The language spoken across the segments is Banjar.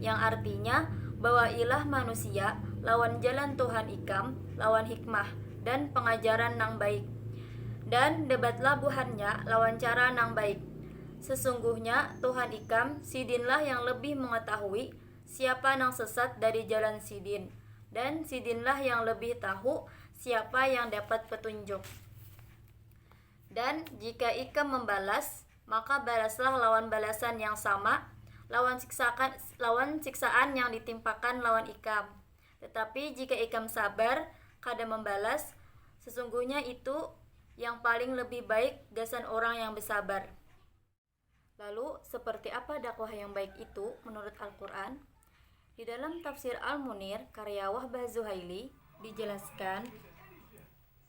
Yang artinya, Bawailah manusia lawan jalan Tuhan ikam lawan hikmah dan pengajaran nang baik, dan debatlah buhannya lawan cara nang baik. Sesungguhnya Tuhan ikam Sidinlah yang lebih mengetahui siapa nang sesat dari jalan Sidin, dan Sidinlah yang lebih tahu siapa yang dapat petunjuk. Dan jika ikam membalas, Maka balaslah lawan balasan yang sama, lawan siksakan lawan siksaan yang ditimpakan lawan ikam. Tetapi jika ikam sabar, kada mambalas, sesungguhnya itu yang paling lebih baik gasan orang yang besabar. Lalu, seperti apa dakwah yang baik itu menurut Al-Qur'an? Di dalam Tafsir Al-Munir karya Wahbah Zuhaili dijelaskan,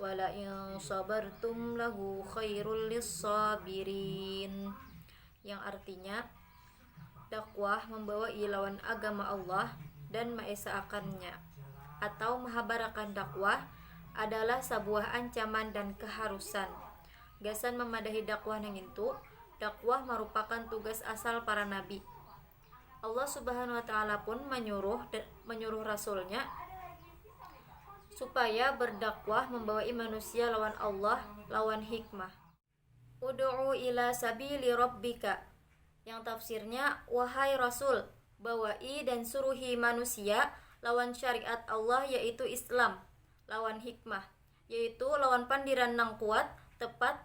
Walaing sabartum lahu khairul lissabirin yang artinya dakwah membawa ilawan agama Allah dan maesaakannya atau mahabarakan dakwah adalah sabuah ancaman dan keharusan gasan memadahi dakwah nangintu dakwah marupakan tugas asal para nabi Allah Subhanahu wa taala pun menyuruh menyuruh rasulnya supaya berdakwah membawa manusia lawan Allah lawan hikmah. Udu'u ila sabili rabbika. Yang tafsirnya, wahai Rasul, bawai dan suruhi manusia lawan syariat Allah yaitu Islam, lawan hikmah, yaitu lawan pandiran nang kuat, tepat,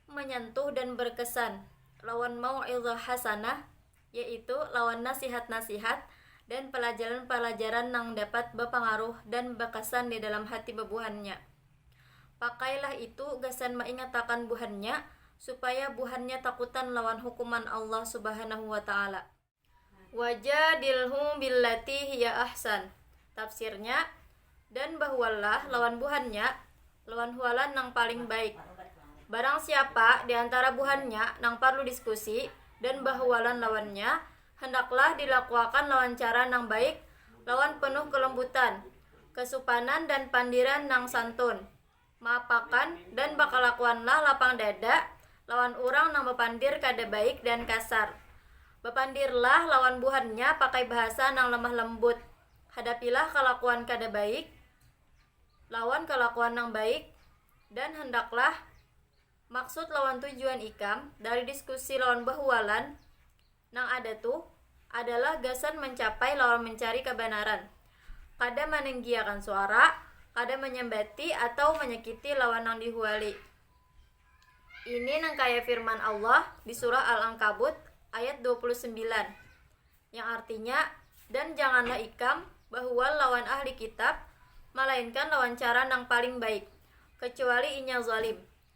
menyentuh dan berkesan, lawan mau'izah hasanah, yaitu lawan nasihat-nasihat dan palajaran-palajaran nang dapat bapangaruh dan bakasan di dalam hati babuhannya. Pakailah itu gasan maingatakan buhannya supaya buhannya takutan lawan hukuman Allah Subhanahu wa Ta'ala. Wajadilhum billati hiya ahsan. Tafsirnya, Dan bahuallah lawan buhannya lawan hualan nang paling baik. Barang siapa di antara buhannya nang parlu diskusi dan bahualan lawannya, hendaklah dilakuakan lawan cara nang baik lawan penuh kelembutan, kesupanan dan pandiran nang santun. Maapakan dan bakalakuanlah lapang dada lawan urang nang bapandir kada baik dan kasar. Bapandirlah lawan buhannya pakai bahasa nang lemah lembut. Hadapilah kalakuan kada baik lawan kalakuan nang baik dan hendaklah maksud lawan tujuan ikam dari diskusi lawan bahualan, nang ada tu adalah gasan mancapai lawan mancari kabanaran, kada manenggiakan suara, kada manyambati atau manyakiti lawan nang dihuali. Ini nang kaya firman Allah di surah Al-Ankabut ayat dua puluh sembilan, yang artinya, Dan janganlah ikam bahual lawan Ahli Kitab, malainkan lawan cara nang paling baik, kacuali inya zalim.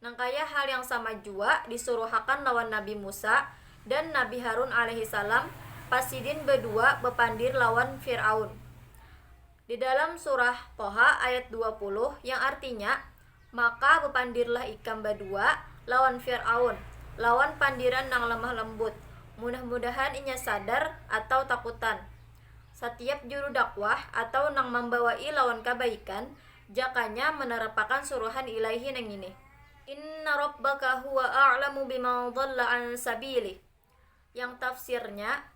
Nangkaya hal yang sama jua disuruhakan lawan Nabi Musa dan Nabi Harun alaihi salam pas sidin badua bapandir lawan Fir'aun di dalam surah Toha ayat dua puluh yang artinya, Maka bapandirlah ikam badua lawan Fir'aun lawan pandiran nang lemah lembut, mudah-mudahan inya sadar atau takutan. Satiap juru dakwah atau nang mambawai lawan kabaikan Jakanya menerapakan suruhan Ilaahi nang ngini, Inna Rabbaka huwa a'lamu biman dhalla an sabilih. Yang tafsirnya,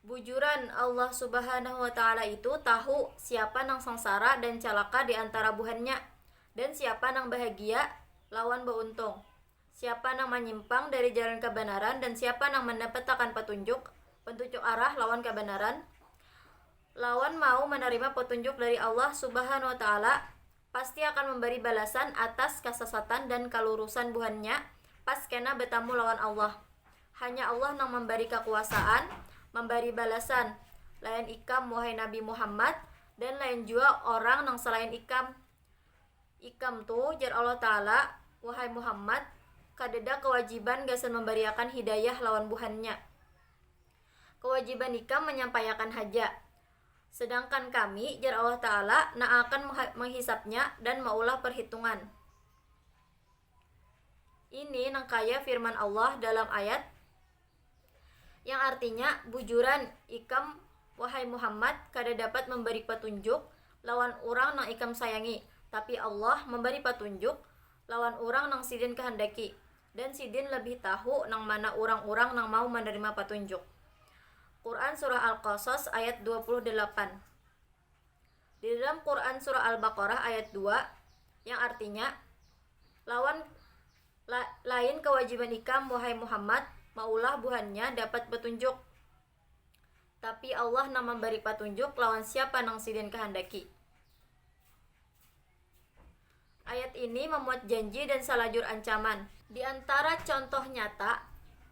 Bujuran Allah Subhanahu wa Ta'ala itu tahu siapa nang sangsara dan calaka di antara buhannya, dan siapa nang bahagia lawan bauntung. Siapa nang manyimpang dari jalan kabanaran dan siapa nang mandapatakan patunjuk, pantucuk arah, lawan kabanaran, lawan mau manarima patunjuk dari Allah Subhanahu wa Ta'ala, pasti akan mambari balasan atas kasasatan dan kalurusan buhannya pas kena batamu lawan Allah. Hanya Allah nang mambari kakuasaan mambari balasan lain ikam wahai Nabi Muhammad dan lain jua orang nang salain ikam. Ikam tu, jar Allah Ta'ala, wahai Muhammad, kadada kawajiban gasan mambariakan hidayah lawan buhannya. Kawajiban ikam manyampaiakan haja. Sedangkan Kami, jar Allah Ta'ala, na'akan menghisabnya dan maulah perhitungan. Ini nangkaya firman Allah dalam ayat, Yang artinya, Bujuran, ikam, wahai Muhammad, kada dapat mambari patunjuk lawan urang nang ikam sayangi, tapi Allah mambari patunjuk lawan urang nang Sidin kahandaki, dan Sidin labih tahu nang mana urang-urang nang mau manarima patunjuk. Quran Surah Al-Qasas ayat dua puluh dalapan Di dalam Quran Surah Al-Baqarah ayat dua, yang artinya, lawan La, lain kawajiban ikam, wahai Muhammad, maulah buhannya dapat batunjuk. Tapi Allah nang mambari patunjuk lawan siapa nang Sidin kahandaki. Ayat ini mamuat janji dan salajur ancaman. Di antara contoh nyata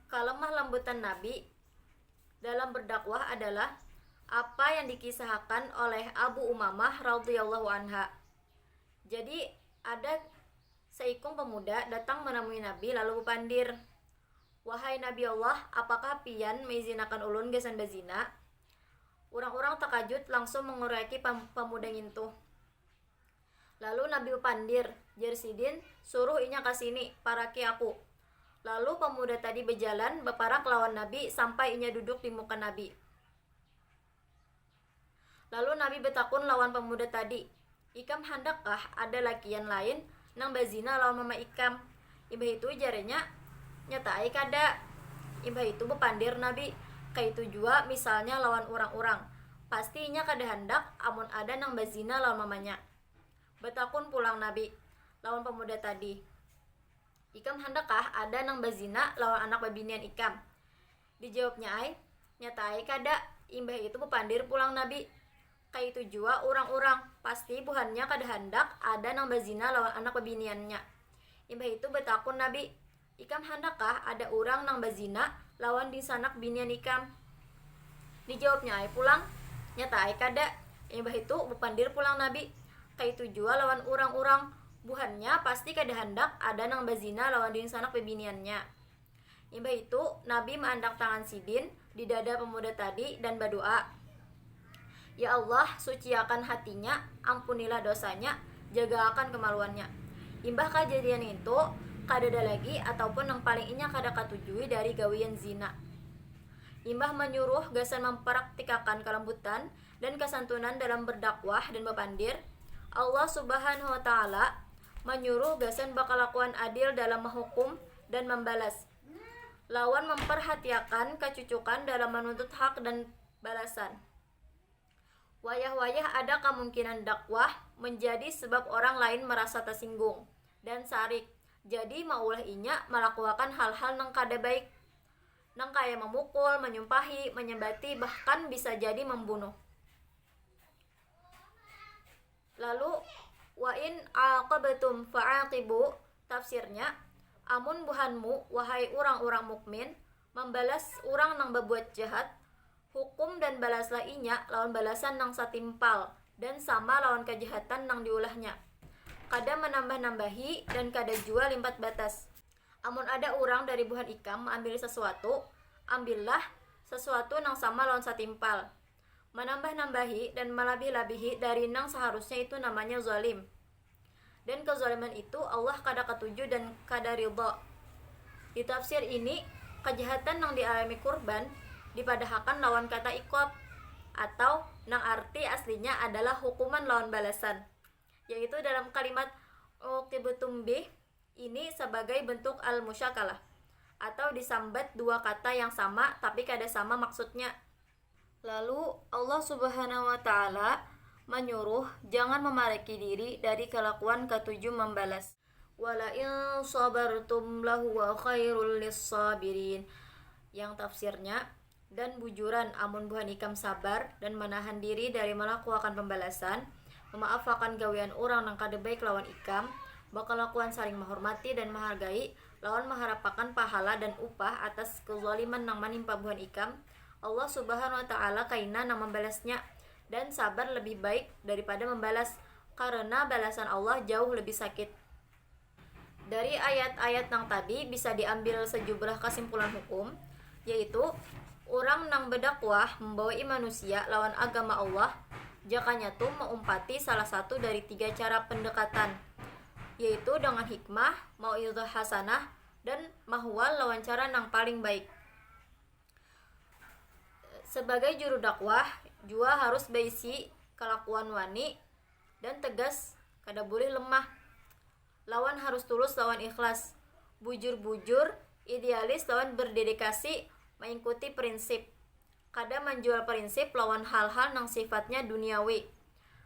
kalemah lambutan Nabi dalam berdakwah adalah apa yang dikisahakan oleh Abu Umamah radhiyallahu anha. Jadi ada Saikung pamuda datang manamui Nabi lalu bapandir, Wahai Nabi Allah, apakah Pian maizinakan ulun gasan bazina? Urang-urang takajut langsung manguruiaki pa-pamuda ngintu. Lalu Nabi bapandir, jar Sidin, suruh inya ka sini, paraki aku. Lalu pamuda tadi bajalan baparak lawan Nabi sampai inya duduk di muka Nabi. Lalu Nabi betakun lawan pemuda tadi, Ikam handak kah ada lakian lain nang bazina lawan mama ikam? Imbah itu jarnya, Nyata ai kada. Imbah itu bepandir Nabi, Kaitu jua misalnya lawan urang-urang, pasti inya kada handak amun ada nang bazina lawan mamanya. Betakun pulang Nabi lawan pemuda tadi, Ikam handak kah ada nang bazina lawan anak babinian ikam? Dijawabnya ai, Nyata ai kada, imbah itu bapandir pulang Nabi. Kaitu jua urang-urang, pasti buhannya kada handak ada nang bazina lawan anak babiniannya. Imbah itu batakun Nabi, Ikam handakkah ada urang nang bazina lawan dingsanak binian ikam? Dijawabnya ai pulang, Nyata ai kada, imbah itu bapandir pulang Nabi. Kaitu jua lawan urang-urang, buhannya pasti kada handak ada nang bazina lawan dingsanak babiniannya. Imbah itu, Nabi maandak tangan sidin di dada pemuda tadi dan badoa, Ya Allah, suciakan hatinya, ampunilah dosanya, jagaakan kemaluannya. Imbah kajadian ngintu, kadada lagi ataupun nang paling inya kada katujui dari gawian zina. Imbah manyuruh gasan mamparaktikakan kalambutan dan kasantunan dalam berdakwah dan bapandir, Allah Subhanahu wa Ta'ala manyuruh gasan bakalakuan adil dalam mahukum dan mambalas, lawan mamparhatiakan kacucukan dalam manuntut hak dan balasan. Wayah-wayah ada kamungkinan dakwah manjadi sebab orang lain marasa tasinggung dan sarik, jadi maulah inya malakuakan hal-hal nang kada baik, nang kaya mamukul, manyumpahi, manyambati, bahkan bisa jadi mambunuh. Lalu, wa in aaqabtum faaqibu, tafsirnya, amun buhanmu, wahai urang-urang mukmin, mambalas urang nang babuat jahat, hukum dan balaslah inya lawan balasan nang satimpal dan sama lawan kajahatan nang diulahnya. Kada manambah-nambahi dan kada jua limpat batas. Amun ada urang dari buhan ikam maambili sasuatu, ambillah sasuatu nang sama lawan satimpal. Manambah-nambahi dan malabih-labihi dari nang saharusnya itu namanya zalim. Dan kezaliman itu Allah kada katuju dan kada ridha. Di tafsir ini, kajahatan nang dialami kurban dipadahakan lawan kata iqab atau nang arti aslinya adalah hukuman lawan balasan, yaitu dalam kalimat uqibtum bih ini sabagai bentuk al-musyakalah atau disambat dua kata yang sama tapi kada sama maksudnya. Lalu, Allah Subhanahu wa Ta'ala manyuruh jangan mamaraki diri dari kalakuan katuju mambalas. Walain sabartum lahuwa khairul lissabirin, yang tafsirnya, Dan bujuran amun buhan ikam sabar dan manahan diri dari malakuakan pambalasan, mamaafakan gawian urang nang kada baik lawan ikam, bakalakuan saling mahormati dan mahargai, lawan maharapakan pahala dan upah atas kezaliman nang manimpa buhan ikam, Allah Subhanahu wa Ta'ala kaina nang mambalasnya, dan sabar lebih baik daripada membalas, karena balasan Allah jauh lebih sakit. Dari ayat-ayat nang tadi bisa diambil sajubrah kasimpulan hukum, yaitu urang nang badakwah membawai manusia lawan agama Allah jakanya tu maumpati salah satu dari tiga cara pendekatan, yaitu dengan hikmah, mauidhah hasanah, dan mahwal lawan cara nang paling baik. sebagai juru dakwah jua harus baisi kalakuan wani dan tegas kada bulih lemah lawan harus tulus lawan ikhlas bujur-bujur idealis lawan berdedikasi maingkuti prinsip kada manjual prinsip lawan hal-hal nang sifatnya duniawi.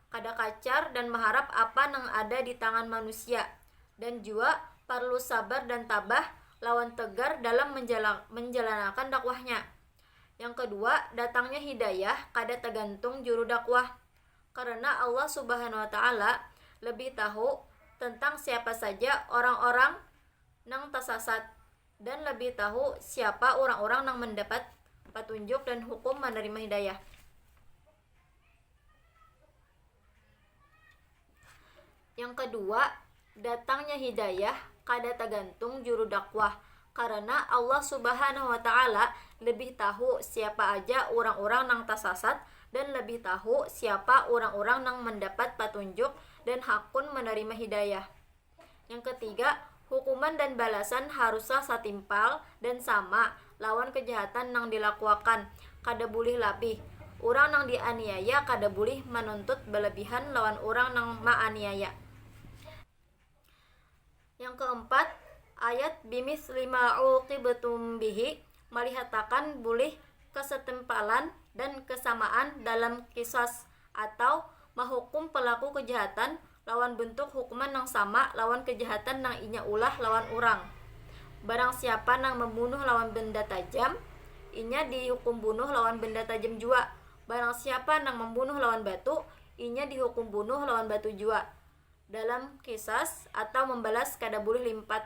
kada kacar dan maharap apa nang ada di tangan manusia, dan jua parlu sabar dan tabah lawan tegar dalam menjalanakan dakwahnya. Yang kedua, datangnya hidayah kada tagantung juru dakwah, karena Allah Subhanahu wa Ta'ala lebih tahu tentang siapa saja orang-orang nang tasasat dan lebih tahu siapa urang-urang nang mandapat patunjuk dan hukum manarima hidayah. Yang kedua, datangnya hidayah kada tagantung juru dakwah karena Allah Subhanahu wa taala lebih tahu siapa aja urang-urang nang tasasat dan lebih tahu siapa urang-urang nang mandapat patunjuk dan hakun manarima hidayah. Yang ketiga, hukuman dan balasan haruslah satimpal dan sama lawan kejahatan nang dilakuakan, kada bulih labih. Urang nang dianiaya kada bulih manuntut balabihan lawan urang nang maaniaya. Yang keempat, ayat bimithli ma uqibtum bihi malihatakan bulih kasatimpalan dan kesamaan dalam qisas atau mahukum pelaku kejahatan lawan bentuk hukuman nang sama lawan kejahatan nang inya ulah lawan urang. Barang siapa nang membunuh lawan benda tajam, inya dihukum bunuh lawan benda tajam jua. Barang siapa nang membunuh lawan batu, inya dihukum bunuh lawan batu jua. Dalam Qisas atau membalas kada bulih limpat